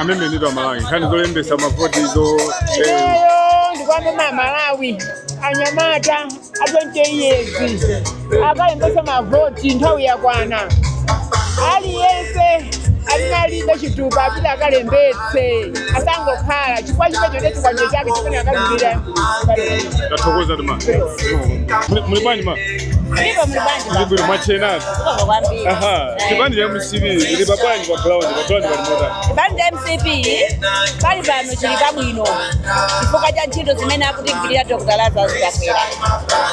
amene ndithu Amalawi nkhani zolembesa mavoti zo ineyo ndikwamema amalawi anyamata a 20 years akalembetse mavoti nthawi yakwana aliyense amene alibe chitupa apita akalembetse asangokhala chifukwa chimecho ndiye chikwanje chake chimene akalimbira tathokoza tima muli bwanji ma Ndipo muli bwanji baba? Ndibwino mwachewanani. Zikomo kwambiri. Aha, Eh. chipani cha MCP ili pabwanji pa ground, pa ground pali motani. Chipani cha MCP pali pano chili pabwino chifukwa cha ntchito zimene akutigwirira Dr. Lazarus Chakwera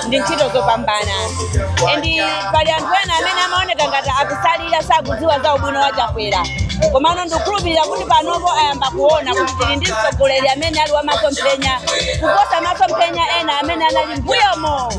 ndi ntchito zopambana and pali anthu ena amene amaoneka ngati akusalira sakudziwa za ubwino wa Chakwera komano ndikukhulupirira kuti panopo ayamba kuona kuti tili ndi mtsogoleri amene ali wa masomphenya kuposa masomphenya ena amene anali mbuyomo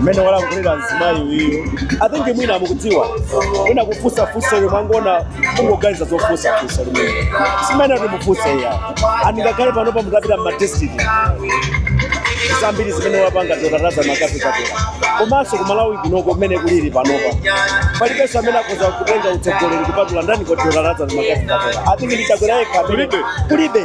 mmene walankhulira mzimayi uyu i think mwina mukudziwa mwina kufunsa funso yemwe amangona kungoganiza zofunsa funso limene simenemo kuti mufunse iyayi and ngakhale panopa mukapita m'madistrict zambiri zimene wapanga Dr. Lazarus McCarthy Chakwera komanso kumalawi kunoko mmene kulili panopa palibenso amene akhoza kutenga utsogoleri kupatula ndani Dr. Lazarus McCarthy Chakwera i think ndi Chakwera yekha amene- Kulibe. kulibe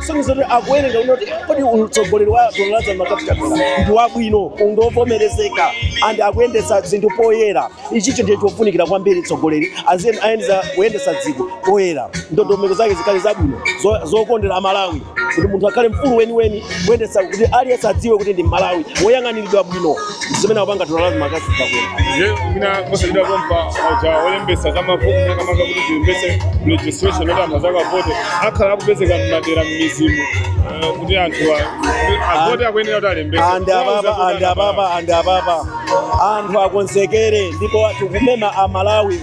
kusonyeza kuti akuwerenga kunoko kuti kodi utsogoleri wa Dr. Lazarus McCarthy Chakwera ndi wabwino ndi wovomerezeka and akuyendetsa zinthu poyera ichicho ndiye chofunikira kwambiri mtsogoleri aziyeni aziyendetsa kuyendetsa dziko poyera ndondomeko zake zikhale zabwino zo- zokondera amalawi kuti munthu akhale mfulu weniweni kuyendetsa kuti aliyense adziwe kuti ndi mmalawi woyang'aniridwa bwino zimene akupanga Dr. Lazarus McCarthy Chakwera nje mina kosalidwa kompa aja olembesa zamavoti makamaka kuti zilembese registration kuti anthu azakavote akhala akupezeka mmadera mmidzimu eh, kuti anthu a- kuti avote akuyenera kuti alembese and ababa and ababa and ababa anthu akonzekere ndipo tikumema amalawi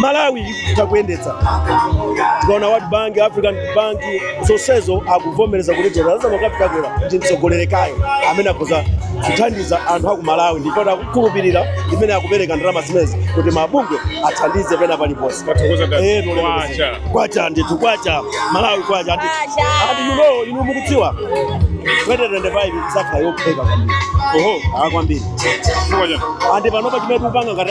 malawi ikutha kuyendetsa tikaona world bank african bank zonsezo akuvomereza kuti Dr. Lazarus McCarthy Chakwera ndi mtsogoleri yekhayo amene akhoza kuthandiza anthu aku malawi ndipo akukhulupirira imene akupereka ndalama zimenezi kuti mabungwe athandize pena paliponse Tathokoza dad. Eh, no, no, no. Kwacha. kwacha ndithu kwacha malawi kwacha and inu mukudziwa 2025 izakhala yophweka kwambiri oho kwambiri Chifukwa chani? andi panopa chimene tikupanga ngati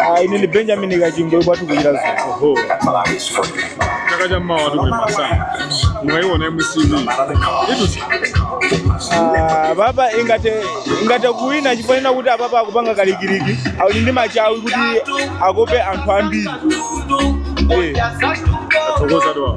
Ah, ine ndi benjamin kachingwe kwathu ku Chiradzulu chaka cha mmawa tikulimbana nazo mukaiona MCP idutsa Ah, apapa ingathe ingathe kuwina chifukwa cha kuti apapa akupanga kalikiliki ali ndi machawi kuti akope anthu ambiri Eh. tathokoza wawa